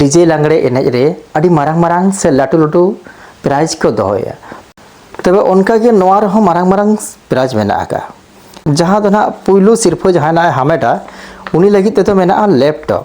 DJ ᱞᱟᱜᱽᱲᱮ ᱮᱱᱮᱡ ᱨᱮ ᱟᱹᱰᱤ ᱢᱟᱨᱟᱝ ᱢᱟᱨᱟᱝ ᱥᱮ ᱞᱟᱹᱴᱩ ᱞᱟᱹᱴᱩ ᱯᱨᱟᱭᱤᱡᱽ ᱠᱚ ᱫᱚᱦᱚᱭᱟ ᱛᱚᱵᱮ ᱚᱱᱠᱟᱜᱮ ᱱᱚᱣᱟ ᱨᱮᱦᱚᱸ ᱢᱟᱨᱟᱝ ᱢᱟᱨᱟᱝ ᱯᱨᱟᱭᱤᱡᱽ ᱢᱮᱱᱟᱜ ᱟᱠᱟᱫᱼᱟ ᱡᱟᱦᱟᱸ ᱫᱚ ᱱᱟᱦᱟᱜ ᱯᱩᱭᱞᱩ ᱥᱤᱨᱯᱷᱟᱹ ᱡᱟᱦᱟᱸᱭ ᱱᱟᱦᱟᱜ ᱦᱟᱢᱮᱴᱟ ᱩᱱᱤ ᱞᱟᱹᱜᱤᱫ ᱛᱮᱫᱚ ᱢᱮᱱᱟᱜᱼᱟ ᱞᱮᱯᱴᱚᱯ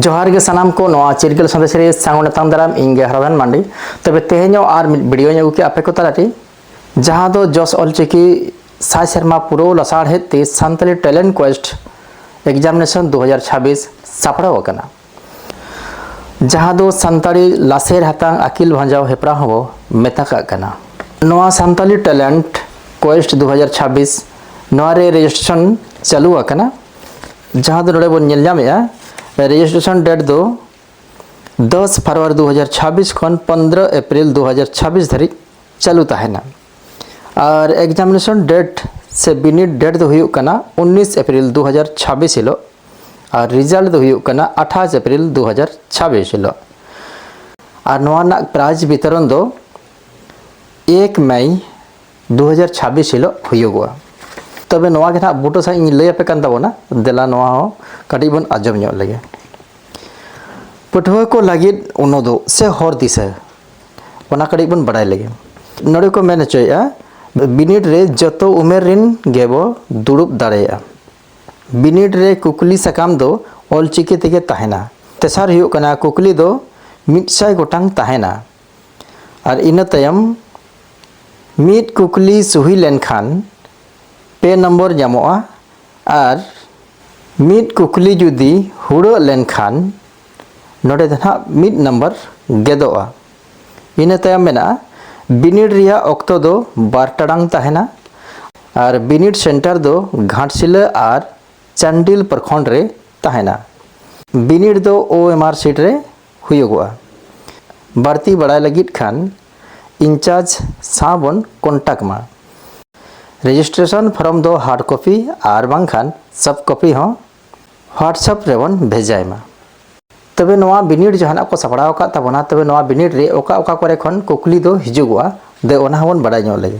ᱡᱚᱦᱟᱨ ᱜᱮ ᱥᱟᱱᱟᱢ ᱠᱚ ᱱᱚᱣᱟ ᱪᱤᱨᱜᱟᱹᱞ ᱥᱟᱸᱫᱮᱥ ᱨᱮ ᱥᱟᱝ ᱱᱮᱛᱟᱝ ᱫᱟᱨᱟᱢ ᱤᱧ ᱜᱮ ᱦᱟᱨᱟᱫᱟᱱ ᱢᱟᱱᱰᱤ ᱛᱚᱵᱮ ᱛᱮᱦᱮᱧ ᱦᱚᱸ ᱟᱨ ᱢᱤᱫ ᱵᱷᱤᱰᱤᱭᱳᱧ ᱟᱹᱜᱩ ᱠᱮᱫᱟ ᱟᱯᱮ ᱠᱚ ᱛᱟᱞᱟᱨᱮ ᱡᱟᱦᱟᱸ ᱫᱚ ᱡᱚᱥ ᱚᱞᱪᱤᱠᱤ ᱥᱟᱭ ᱥᱮᱨᱢᱟ ᱯᱩᱨᱟᱹᱣ ᱞᱟᱥᱟᱲᱦᱮᱫ ᱛᱮ ᱥᱟᱱᱛᱟᱲᱤ ᱴᱮᱞᱮᱱᱴ ᱠᱚᱭᱮᱥᱴ ᱮᱠᱡᱟᱢᱤᱱᱮᱥᱚᱱ ᱫᱩ ᱦᱟᱡᱟᱨ ᱪᱷᱟᱵᱵᱤᱥ ᱥᱟᱯᱲᱟᱣ ᱟᱠᱟᱱᱟ ᱡᱟᱦᱟᱸ ᱫᱚ ᱥᱟᱱᱛᱟᱲᱤ ᱞᱟᱥᱮᱨ ᱦᱟᱛᱟᱝ ᱟᱹᱠᱤᱞ ᱵᱷᱟᱸᱡᱟᱣ ᱦᱮᱯᱨᱟᱣ ᱦᱚᱸᱵᱚ ᱢᱮᱛᱟ ᱠᱟᱜ ᱠᱟᱱᱟ ᱱᱚᱣᱟ ᱥᱟᱱᱛᱟᱲᱤ ᱴᱮᱞᱮᱱᱴ ᱠᱚᱭᱮᱥᱴ ᱫᱩ ᱦᱟᱡᱟᱨ ᱪᱷᱟᱵᱵᱤᱥ ᱱᱚᱣᱟ ᱨᱮ ᱨᱮᱡᱤᱥᱴᱨᱮᱥᱚᱱ ᱪᱟᱹᱞᱩ ᱟᱠᱟᱱᱟ ᱡᱟᱦᱟᱸ ᱫᱚ ᱱᱚᱰᱮ ᱵᱚᱱ ᱧᱮᱞ ᱧᱟᱢᱮᱫᱼᱟ ᱨᱮᱡᱤᱥᱴᱨᱮᱥᱚᱱ ᱰᱮᱴ ᱫᱚ ᱫᱚᱥ ᱯᱷᱟᱨᱣᱟᱨ ᱫᱩ ᱦᱟᱡᱟᱨ ᱪᱷᱟᱵᱤᱥ ᱠᱷᱚᱱ ᱯᱚᱱᱫᱽᱨᱚ ᱮᱯᱨᱤᱞ ᱫᱩ ᱦᱟᱡᱟᱨ ᱪᱷᱟᱵᱤᱥ ᱫᱷᱟᱹᱨᱤᱡ ᱪᱟᱹᱞᱩ ᱛᱟᱦᱮᱱᱟ ᱟᱨ ᱮᱠᱡᱟᱢᱤᱱᱮᱥᱚᱱ ᱰᱮᱴ ᱥᱮ ᱵᱤᱱᱤᱰ ᱰᱮᱴ ᱫᱚ ᱦᱩᱭᱩᱜ ᱠᱟᱱᱟ ᱩᱱᱤᱥ ᱮᱯᱨᱤᱞ ᱫᱩ ᱦᱟᱡᱟᱨ ᱪᱷᱟᱵᱤᱥ ᱦᱤᱞᱳᱜ ᱟᱨ ᱨᱮᱡᱟᱞᱴ ᱫᱚ ᱦᱩᱭᱩᱜ ᱠᱟᱱᱟ ᱟᱴᱷᱟᱥ ᱮᱯᱨᱤᱞ ᱫᱩ ᱦᱟᱡᱟᱨ ᱪᱷᱟᱵᱤᱥ ᱦᱤᱞᱳᱜ ᱟᱨ ᱱᱚᱣᱟ ᱨᱮᱱᱟᱜ ᱯᱨᱟᱭᱤᱡᱽ ᱵᱤᱛᱚᱨᱚᱱ ᱫᱚ ᱮᱠ ᱢᱮᱭ ᱫᱩ ᱦᱟᱡᱟᱨ ᱪᱷᱟᱵᱤᱥ ᱦᱤᱞᱳᱜ ᱦᱩᱭᱩᱜᱚᱜᱼᱟ ᱛᱚᱵᱮ ᱱᱚᱣᱟ ᱜᱮ ᱱᱟᱦᱟᱜ ᱵᱩᱴᱟᱹ ᱥᱟᱺᱦᱤᱡ ᱤᱧ ᱞᱟᱹᱭ ᱟᱯᱮ ᱠᱟᱱ ᱛᱟᱵᱚᱱᱟ ᱫᱮᱞᱟ ᱱᱚᱣᱟ ᱦᱚᱸ ᱠᱟᱹᱴᱤᱡ ᱵᱚᱱ ᱟᱸᱡᱚᱢ ᱧᱚᱜ ᱞᱮᱜᱮ ᱯᱟᱹᱴᱷᱩᱣᱟᱹ ᱠᱚ ᱞᱟᱹᱜᱤᱫ ᱩᱱᱩᱫᱩᱜ ᱥᱮ ᱦᱚᱨ ᱫᱤᱥᱟᱹ ᱚᱱᱟ ᱠᱟᱹᱴᱤᱡ ᱵᱚᱱ ᱵᱟᱰᱟᱭ ᱞᱮᱜᱮ ᱱᱚᱰᱮ ᱠᱚ ᱢᱮᱱ ᱦᱚᱪᱚᱭᱮᱫᱼᱟ ᱵᱤᱱᱤᱰ ᱨᱮ ᱡᱚᱛᱚ ᱩᱢᱮᱨ ᱨᱮᱱ ᱜᱮᱵᱚ ᱫᱩᱲᱩᱵ ᱫᱟᱲᱮᱭᱟᱜᱼᱟ ᱵᱤᱱᱤᱰ ᱨᱮ ᱠᱩᱠᱞᱤ ᱥᱟᱠᱟᱢ ᱫᱚ ᱚᱞᱪᱤᱠᱤ ᱛᱮᱜᱮ ᱛᱟᱦᱮᱱᱟ ᱛᱮᱥᱟᱨ ᱦᱩᱭᱩᱜ ᱠᱟᱱᱟ ᱠᱩᱠᱞᱤ ᱫᱚ ᱢᱤᱫ ᱥᱟᱭ ᱜᱚᱴᱟᱝ ᱛᱟᱦᱮᱱᱟ ᱟᱨ ᱤᱱᱟᱹ ᱛᱟᱭᱚᱢ ᱢᱤᱫ ᱠᱩᱠᱞᱤ ᱥᱩᱦᱤ ᱞᱮᱱᱠᱷᱟᱱ ᱯᱮ ᱱᱚᱢᱵᱚᱨ ᱧᱟᱢᱚᱜᱼᱟ ᱟᱨ ᱢᱤᱫ ᱠᱩᱠᱞᱤ ᱡᱩᱫᱤ ᱦᱩᱲᱟᱹᱜ ᱞᱮᱱᱠᱷᱟᱱ ᱱᱚᱰᱮ ᱫᱚ ᱱᱟᱦᱟᱜ ᱢᱤᱫ ᱱᱟᱢᱵᱟᱨ ᱜᱮᱫᱚᱜᱼᱟ ᱤᱱᱟᱹ ᱛᱟᱭᱚᱢ ᱢᱮᱱᱟᱜᱼᱟ ᱵᱤᱱᱤᱰ ᱨᱮᱭᱟᱜ ᱚᱠᱛᱚ ᱫᱚ ᱵᱟᱨ ᱴᱟᱲᱟᱝ ᱛᱟᱦᱮᱱᱟ ᱟᱨ ᱵᱤᱱᱤᱰ ᱥᱮᱱᱴᱟᱨ ᱫᱚ ᱜᱷᱟᱴᱥᱤᱞᱟᱹ ᱟᱨ ᱪᱟᱱᱰᱤᱞ ᱯᱨᱚᱠᱷᱚᱸᱰ ᱨᱮ ᱛᱟᱦᱮᱱᱟ ᱵᱤᱱᱤᱰ ᱫᱚ ᱳ ᱮᱢ ᱟᱨ ᱥᱤᱴ ᱨᱮ ᱦᱩᱭᱩᱜᱚᱜᱼᱟ᱾ ᱵᱟᱹᱲᱛᱤ ᱵᱟᱲᱟᱭ ᱞᱟᱹᱜᱤᱫ ᱠᱷᱟᱱ ᱤᱱᱪᱟᱨᱡᱽ ᱥᱟᱶ ᱵᱚᱱ ᱠᱚᱱᱴᱟᱠᱴ ᱢᱟ᱾ ᱨᱮᱡᱤᱥᱴᱨᱮᱥᱚᱱ ᱯᱷᱚᱨᱢ ᱫᱚ ᱦᱟᱨᱰ ᱠᱚᱯᱤ ᱟᱨ ᱵᱟᱝᱠᱷᱟᱱ ᱥᱚᱯᱷᱴ ᱠᱚᱯᱤ ᱦᱚᱸ ᱦᱣᱟᱴᱥᱟᱯ ᱨᱮ ᱵᱚᱱ ᱵᱷᱮᱡᱟᱭ ᱢᱟ᱾ ᱛᱚᱵᱮ ᱱᱚᱣᱟ ᱵᱤᱱᱤᱰ ᱡᱟᱦᱟᱱᱟᱜ ᱠᱚ ᱥᱟᱯᱲᱟᱣ ᱟᱠᱟᱫ ᱛᱟᱵᱚᱱᱟ ᱛᱚᱵᱮ ᱱᱚᱣᱟ ᱵᱤᱱᱤᱰ ᱨᱮ ᱚᱠᱟ ᱚᱠᱟ ᱠᱚᱨᱮ ᱠᱷᱚᱱ ᱠᱩᱠᱞᱤ ᱫᱚ ᱦᱤᱡᱩᱜᱚᱜᱼᱟ ᱫᱮ ᱚᱱᱟ ᱦᱚᱸ ᱵᱚᱱ ᱵᱟᱰᱟᱭ ᱧᱚᱜ ᱞᱮᱜᱮ᱾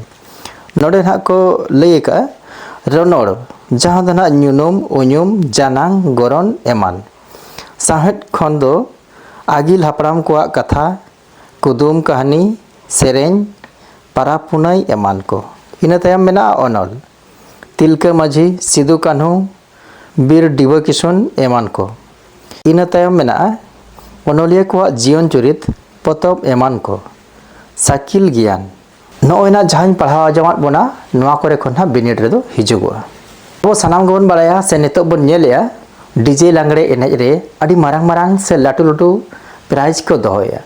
ᱱᱚᱰᱮ ᱱᱟᱦᱟᱜ ᱠᱚ ᱞᱟᱹᱭ ᱟᱠᱟᱫᱼᱟ ᱨᱚᱱᱚᱲ ᱡᱟᱦᱟᱸ ᱫᱚ ᱱᱟᱦᱟᱜ ᱧᱩᱱᱩᱢ, ᱩᱧᱩᱢ, ᱡᱟᱱᱟᱝ, ᱜᱚᱨᱚᱱ ᱮᱢᱟᱱ᱾ ᱥᱟᱶᱦᱮᱫ ᱠᱷᱚᱱ ᱫᱚ ᱟᱹᱜᱤᱞ ᱦᱟᱯᱲᱟᱢ ᱠᱚᱣᱟᱜ ᱠᱟᱛᱷᱟ, ᱠᱩᱫᱩᱢ ᱠᱟᱹᱦᱱᱤ, ᱥᱮᱨᱮᱧ, ᱯᱟᱨᱟᱵᱽ ᱯᱩᱱᱟᱹᱭ ᱮᱢᱟᱱ ᱠᱚ᱾ ᱤᱱᱟᱹ ᱛᱟᱭᱚᱢ ᱢᱮᱱᱟᱜᱼᱟ ᱚᱱᱚᱞ, ᱛᱤᱞᱠᱟᱹ ᱢᱟᱹᱡᱷᱤ, ᱥᱤᱫᱩ ᱠᱟᱹᱱᱦᱩ, ᱵᱤᱨ ᱰᱤᱵᱟᱹ ᱠᱤᱥᱩᱱ ᱮᱢᱟᱱ ᱠᱚ᱾ ᱤᱱᱟᱹ ᱛᱟᱭᱚᱢ ᱢᱮᱱᱟᱜᱼᱟ ᱚᱱᱚᱞᱤᱭᱟᱹ ᱠᱚᱣᱟᱜ ᱡᱤᱭᱚᱱ ᱪᱩᱨᱤᱛ, ᱯᱚᱛᱚᱵ ᱮᱢᱟᱱ ᱠᱚ᱾ ᱥᱟᱠᱤᱞ ᱜᱮᱭᱟᱱ᱾ ᱱᱚᱜᱼᱚᱭ ᱱᱟᱜ ᱡᱟᱦᱟᱸᱧ ᱯᱟᱲᱦᱟᱣ ᱟᱸᱡᱚᱢᱟᱫ ᱵᱚᱱᱟ ᱱᱚᱣᱟ ᱠᱚᱨᱮ ᱠᱷᱚᱱ ᱱᱟᱜ ᱵᱤᱱᱤᱰ ᱨᱮᱫᱚ ᱦᱤᱡᱩᱜᱚᱜᱼᱟ ᱟᱵᱚ ᱥᱟᱱᱟᱢ ᱜᱮᱵᱚᱱ ᱵᱟᱲᱟᱭᱟ ᱥᱮ ᱱᱤᱛᱚᱜ ᱵᱚᱱ ᱧᱮᱞᱮᱜᱼᱟ ᱰᱤᱡᱮ ᱞᱟᱜᱽᱲᱮ ᱮᱱᱮᱡ ᱨᱮ ᱟᱹᱰᱤ ᱢᱟᱨᱟᱝ ᱢᱟᱨᱟᱝ ᱥᱮ ᱞᱟᱹᱴᱩ ᱞᱟᱹᱴᱩ ᱯᱨᱟᱭᱤᱡᱽ ᱠᱚ ᱫᱚᱦᱚᱭᱟ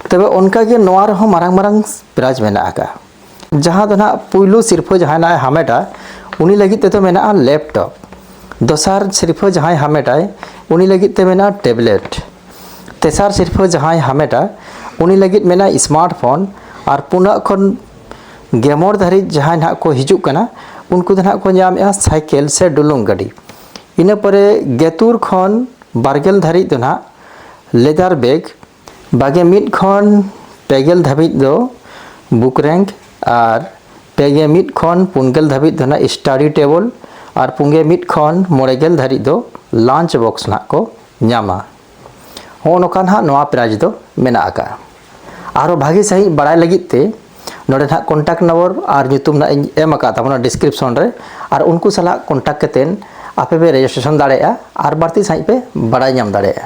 ᱛᱚᱵᱮ ᱚᱱᱠᱟᱜᱮ ᱱᱚᱣᱟ ᱨᱮᱦᱚᱸ ᱢᱟᱨᱟᱝ ᱢᱟᱨᱟᱝ ᱯᱨᱟᱭᱤᱡᱽ ᱢᱮᱱᱟᱜ ᱟᱠᱟᱫᱼᱟ ᱡᱟᱦᱟᱸ ᱫᱚ ᱱᱟᱜ ᱯᱩᱭᱞᱩ ᱥᱤᱨᱯᱷᱟᱹ ᱡᱟᱦᱟᱸᱭ ᱱᱟᱜ ᱦᱟᱢᱮᱴᱟ ᱩᱱᱤ ᱞᱟᱹᱜᱤᱫ ᱛᱮᱫᱚ ᱢᱮᱱᱟᱜᱼᱟ ᱞᱮᱯᱴᱚᱯ ᱫᱚᱥᱟᱨ ᱥᱤᱨᱯᱷᱟᱹ ᱡᱟᱦᱟᱸᱭ ᱦᱟᱢᱮᱴᱟᱭ ᱩᱱᱤ ᱞᱟᱹᱜᱤᱫ ᱛᱮ ᱢᱮᱱᱟᱜᱼᱟ ᱴᱮᱵᱽᱞᱮᱴ ᱛᱮᱥᱟᱨ ᱥᱤᱨᱯᱷᱟᱹ ᱡᱟᱦᱟᱸᱭ ᱦᱟᱢᱮᱴᱟ ᱩᱱᱤ ᱞᱟᱹᱜᱤᱫ ᱢᱮᱱᱟᱜ ᱥᱢᱟᱨᱴ ᱯᱷᱳᱱ ᱟᱨ ᱯᱩᱱᱟᱜ ᱠᱷᱚᱱ ᱜᱮᱢᱚᱬ ᱫᱷᱟᱹᱨᱤᱡ ᱡᱟᱦᱟᱸᱭ ᱱᱟᱦᱟᱜ ᱠᱚ ᱦᱤᱡᱩᱜ ᱠᱟᱱᱟ ᱩᱱᱠᱩ ᱫᱚ ᱱᱟᱦᱟᱜ ᱠᱚ ᱧᱟᱢᱮᱜᱼᱟ ᱥᱟᱭᱠᱮᱞ ᱥᱮ ᱰᱩᱞᱩᱝ ᱜᱟᱹᱰᱤ ᱤᱱᱟᱹ ᱯᱚᱨᱮ ᱜᱮᱛᱩᱨ ᱠᱷᱚᱱ ᱵᱟᱨᱜᱮᱞ ᱫᱷᱟᱹᱨᱤᱡ ᱫᱚ ᱱᱟᱦᱟᱜ ᱞᱮᱫᱟᱨ ᱵᱮᱜᱽ ᱵᱟᱜᱮ ᱢᱤᱫ ᱠᱷᱚᱱ ᱯᱮᱜᱮᱞ ᱫᱷᱟᱹᱵᱤᱡ ᱫᱚ ᱵᱩᱠ ᱨᱮᱝᱠ ᱟᱨ ᱯᱮᱜᱮ ᱢᱤᱫ ᱠᱷᱚᱱ ᱯᱩᱱᱜᱮᱞ ᱫᱷᱟᱹᱵᱤᱡ ᱫᱚ ᱱᱟᱦᱟᱜ ᱥᱴᱟᱰᱤ ᱴᱮᱵᱚᱞ ᱟᱨ ᱯᱩᱱᱜᱮ ᱢᱤᱫ ᱠᱷᱚᱱ ᱢᱚᱬᱮ ᱜᱮᱞ ᱫᱷᱟᱹᱨᱤᱡ ᱫᱚ ᱞᱟᱧᱪ ᱵᱚᱠᱥ ᱱᱟᱦᱟᱜ ᱠᱚ ᱧᱟᱢᱟ ᱦᱚᱸᱜᱼᱚ ᱱᱚᱝᱠᱟ ᱱᱟᱦᱟᱜ ᱱᱚᱣᱟ ᱯᱨᱟᱭᱤᱡᱽ ᱫᱚ ᱢᱮᱱᱟᱜ ᱟᱠᱟᱫᱼᱟ ᱟᱨᱦᱚᱸ ᱵᱷᱟᱹᱜᱤ ᱥᱟᱺᱦᱤᱡ ᱵᱟᱲᱟᱭ ᱞᱟᱹᱜᱤᱫ ᱛᱮ ᱱᱚᱰᱮ ᱱᱟᱦᱟᱜ ᱠᱚᱱᱴᱟᱠᱴ ᱱᱚᱢᱵᱚᱨ ᱟᱨ ᱧᱩᱛᱩᱢ ᱱᱟᱦᱟᱜ ᱤᱧ ᱮᱢ ᱟᱠᱟᱫ ᱛᱟᱵᱚᱱᱟ ᱰᱤᱥᱠᱨᱤᱯᱥᱚᱱ ᱨᱮ ᱟᱨ ᱩᱱᱠᱩ ᱥᱟᱞᱟᱜ ᱠᱚᱱᱴᱟᱠᱴ ᱠᱟᱛᱮᱫ ᱟᱯᱮ ᱯᱮ ᱨᱮᱡᱤᱥᱴᱨᱮᱥᱚᱱ ᱫᱟᱲᱮᱭᱟᱜᱼᱟ ᱟᱨ ᱵᱟᱹᱲᱛᱤ ᱥᱟᱺᱦᱤᱡ ᱯᱮ ᱵᱟᱲᱟᱭ ᱧᱟᱢ ᱫᱟᱲᱮᱭᱟᱜᱼᱟ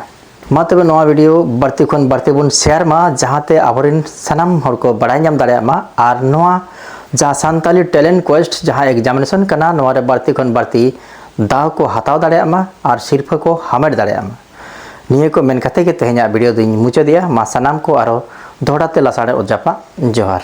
ᱢᱟ ᱛᱚᱵᱮ ᱱᱚᱣᱟ ᱵᱷᱤᱰᱤᱭᱳ ᱵᱟᱹᱲᱛᱤ ᱠᱷᱚᱱ ᱵᱟᱹᱲᱛᱤ ᱵᱚᱱ ᱥᱮᱭᱟᱨ ᱢᱟ ᱡᱟᱦᱟᱸᱛᱮ ᱟᱵᱚᱨᱮᱱ ᱥᱟᱱᱟᱢ ᱦᱚᱲ ᱠᱚ ᱵᱟᱲᱟᱭ ᱧᱟᱢ ᱫᱟᱲᱮᱭᱟᱜ ᱢᱟ ᱟᱨ ᱱᱚᱣᱟ ᱡᱟᱦᱟᱸ ᱥᱟᱱᱛᱟᱞᱤ ᱴᱮᱞᱮᱱᱴ ᱠᱚᱭᱮᱥᱴ ᱡᱟᱦᱟᱸ ᱮᱠᱡᱟᱢᱤᱱᱮᱥᱚᱱ ᱠᱟᱱᱟ ᱱᱚᱣᱟᱨᱮ ᱵᱟᱹᱲᱛᱤ ᱠᱷᱚᱱ ᱵᱟᱹᱲᱛᱤ ᱫᱟᱣ ᱠᱚ ᱦᱟᱛᱟᱣ ᱫᱟᱲᱮᱭᱟᱜ ᱢᱟ ᱟᱨ ᱥᱤᱨᱯᱷᱟᱹ ᱠᱚ ᱦᱟᱢᱮᱴ ᱫᱟᱲᱮᱭᱟᱜ ᱢᱟ ᱱᱤᱭᱟᱹ ᱠᱚ ᱢᱮᱱ ᱠᱟᱛᱮ ᱜᱮ ᱛᱮᱦᱮᱧᱟᱜ ᱵᱷᱤᱰᱤᱭᱳ ᱫᱚᱧ ᱢᱩᱪᱟᱹᱫᱮᱜᱼᱟ ᱢᱟ ᱥᱟᱱᱟᱢ ᱠᱚ ᱟᱨᱚ ᱫᱚᱦᱲᱟ ᱛᱮ ᱞᱟᱥᱟᱲᱮ ᱚᱛ ᱡᱟᱯᱟᱜ ᱡᱚᱦᱟᱨ